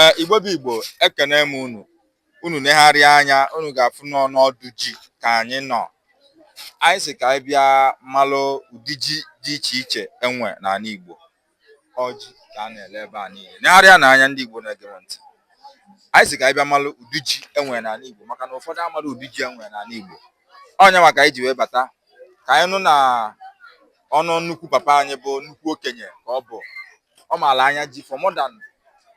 ee igbo bụ igbo ekene m unu unu negharịa anya unu ga-afụ na ọ n'ọdụ ji ka anyị nọ anyị sị ka anyị bịa malụ ụdị ji dị iche iche e nwe n'ala igbo ọ ji ka a na-ele ebe a niile negharịanụ anya ndị igbo na-ege m ntị anyị sị ka anyị bịa malụ ụdị ji e nwe n'ala igbo maka na ụfọdụ amarọ ụdị ji e nwe n'ala igbo ọ nya maka anyị ji wee bata ka anyị nụ na ọnụ nnukwu papa anyị bụ nnukwu okenye ka ọ bụ ọ maala anya ji for more than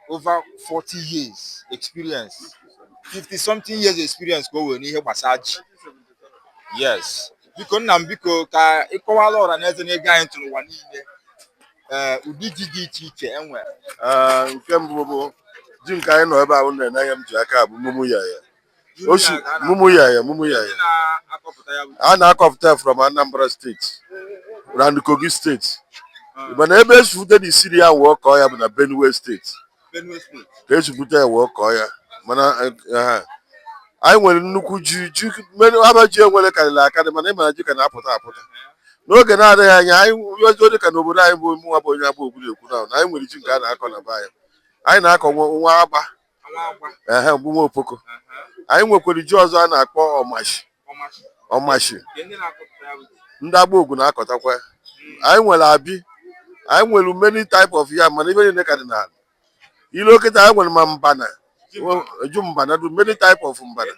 over 40 years experience 50 something years experience ka o nwere n'ihe gbasara ji yes biko nna m biko ka ị kọwaala ọra na eze na-ege anyị ntị n'ụwa niile ee eh, ụdị ji dị iche iche e nwere eh, nke mbụ bụ ji nke anyị nọ ebe a nụnwa m ji aka bụ mumuye yam ọ sị mumuye yam mumuye yam a na-akọpụta ya from Anambra steeti and Kogi steeti mana ebe e si bute na isiri ya wee kọọ ya bụ na Benue steeti ka e si bute ya wee kọọ ya mana anyị nwere nnukwu ji ji aba ji e nwere karịrị akarị mana ị mara ji ka na-apụta apụta n'oge na-adịghị anya anyị ozi dị ka n'obodo anyị bụ mụnwa bụ onye agba ogwu ilukwe na anyị nwere ji nke a na-akọ na be anyị anyị na-akọ nwa agba ehe bụ nwa opoko anyị nwekwara ji ọzọ a na-akpọ ọmashi ọmashi ndị agba ogwu na-akọtakwa anyị nwere abi anyị nwere many type of yam mana ive niile ka dị n'ala luo kịta anyị nwere ma mbana ji mbana dụ many type of mbana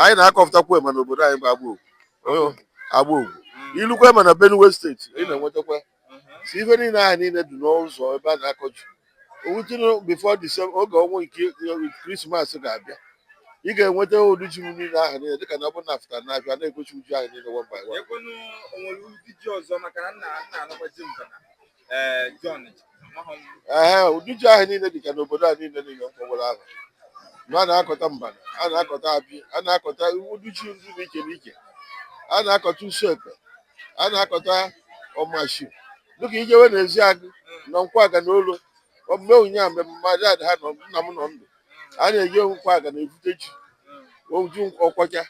anyị na-akọpụtakwa ya ma n'obodo anyị bụ agba ogwu agba ogwu ilukwe ma na benue steeti ị na-enwetakwa so ife niile ahụ niile dị n'ụzọ ebe a na-akọ ji o rutenụ before Disemba oge ọnwa nke krismas ga-abịa ị ga-enweta ụdị ji niile ahụ niile dịka na ọ bụrụ na a fụta n'afịa na-egosi ị ji ahụ niile one by one ekwenu o nwere ụdị ji ọzọ maka na nna nna anụkwa ji mbana ee John ji amaghị m ee ụdị ji ahụ niile dịka n'obodo a niile niile m kpọwara aha na a na-akọta mbana a na-akọta abi a na-akọta ụdị ji ndị dị iche n'iche a na-akọta usu ekpe a na-akọta ọmashi dịka i jewe n'ezeagụ na nkwọ agụ na olo omume ụnyaahụ mgbe mmadụ ada ha nọ nna m nọ ndụ a na-eje nkwọ agụ na-ebute ji oju ọkwacha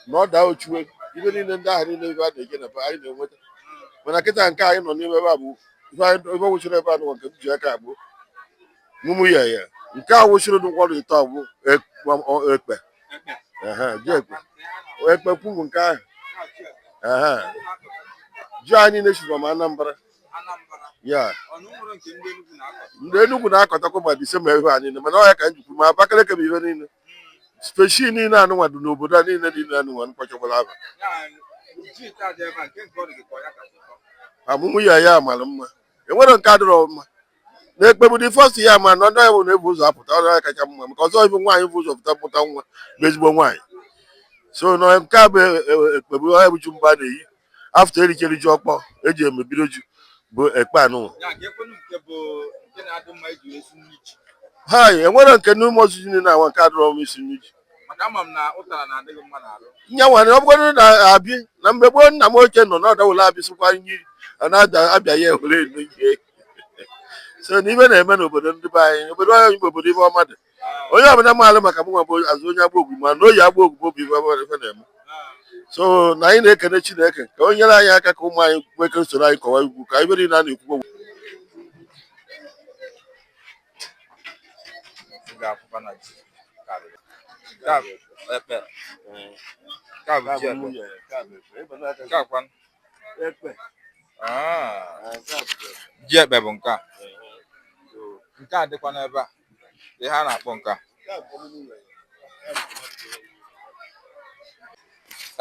na ọ daa ochuwe ibe niile ndị ahụ niile ebe a na-eje na be anyị na-enweta mana kịta nke anyị nọ n'ime ebe a bụ ife anyị- ife wụchiri ebe a nụnwa nke m ji aka bụ Mumuye yam. Nke a wụsịrị ụdị nkwado ite ọ bụ ekpe. Ji ekpe. Ekpe kwuru nke ahụ. Ji anyị na-esiba ma Anambra. Ya. Ndị Enugwu na-akọtakwa ma the same ihe a mana ọ ya ka m ji kwuo ma Abakaliki bụ ihe niile. Species niile anụnwa dị n'obodo a niile niile anụnwa m kpọchakwara aha. Mumuye yam mara mma. E nwere nke adịrọ mma. na ekpe bụ the first yam a na ndị ọ ya bụ na-ebu ụzọ apụta ọ ya kacha mma maka ọzọ ibu nwaanyị bu ụzọ pụta pụta nwa bụ ezigbo nwaanyị so na nke a bụ e, e, e, ekpe bụ ọ ya bụ ji mbụ a na-eyi after e richere ji ọkpọ e ji emebido ji bụ ekpe anụ ha enwere nke n'ụmụ ozu ji na awa nke adịrọ m isi nri ji nyanwa na ọ bụgodị na abi na mgbe gboo nna m ochie nọ na ọdawụla abịsịkwa nri na-abịa ya ewere so na ife na-eme n'obodo ndị be anyị obodo anyị bụ obodo ife ọma dị onye ọbụla maalụ maka mụnwa bụ azụ onye agba ogwu mana oyi agba ogwu bụ obi ife ọma ife na-eme so na anyị na-ekene chineke ka o nyere anyị aka ka ụmụ anyị nwee ike soro anyị kọwa ugbo ka ife niile a na-ekwu okwu Ah. ji ekpe bụ nke a nke a dịkwa n'ebe a ihe a na-akpọ nke a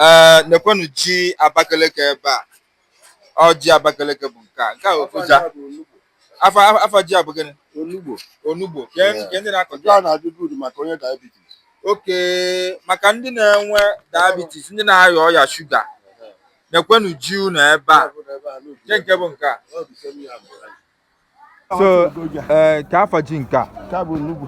ee nekwenụ ji abakeleke ebe a ọ ji abakeleke bụ nke a nke a ofuja afa afa ji a bụ gịnị onugbo onugbo ka Yeah. nke ndị na-akọ nke a na-adị good maka onye diabetes okay maka ndị na-enwe diabetes ndị na-arịa ọrịa shuga nekwenụ ji unu ebe a nke nke bụ nke a so eh, ka afa ji nke a nke a bụ onugbo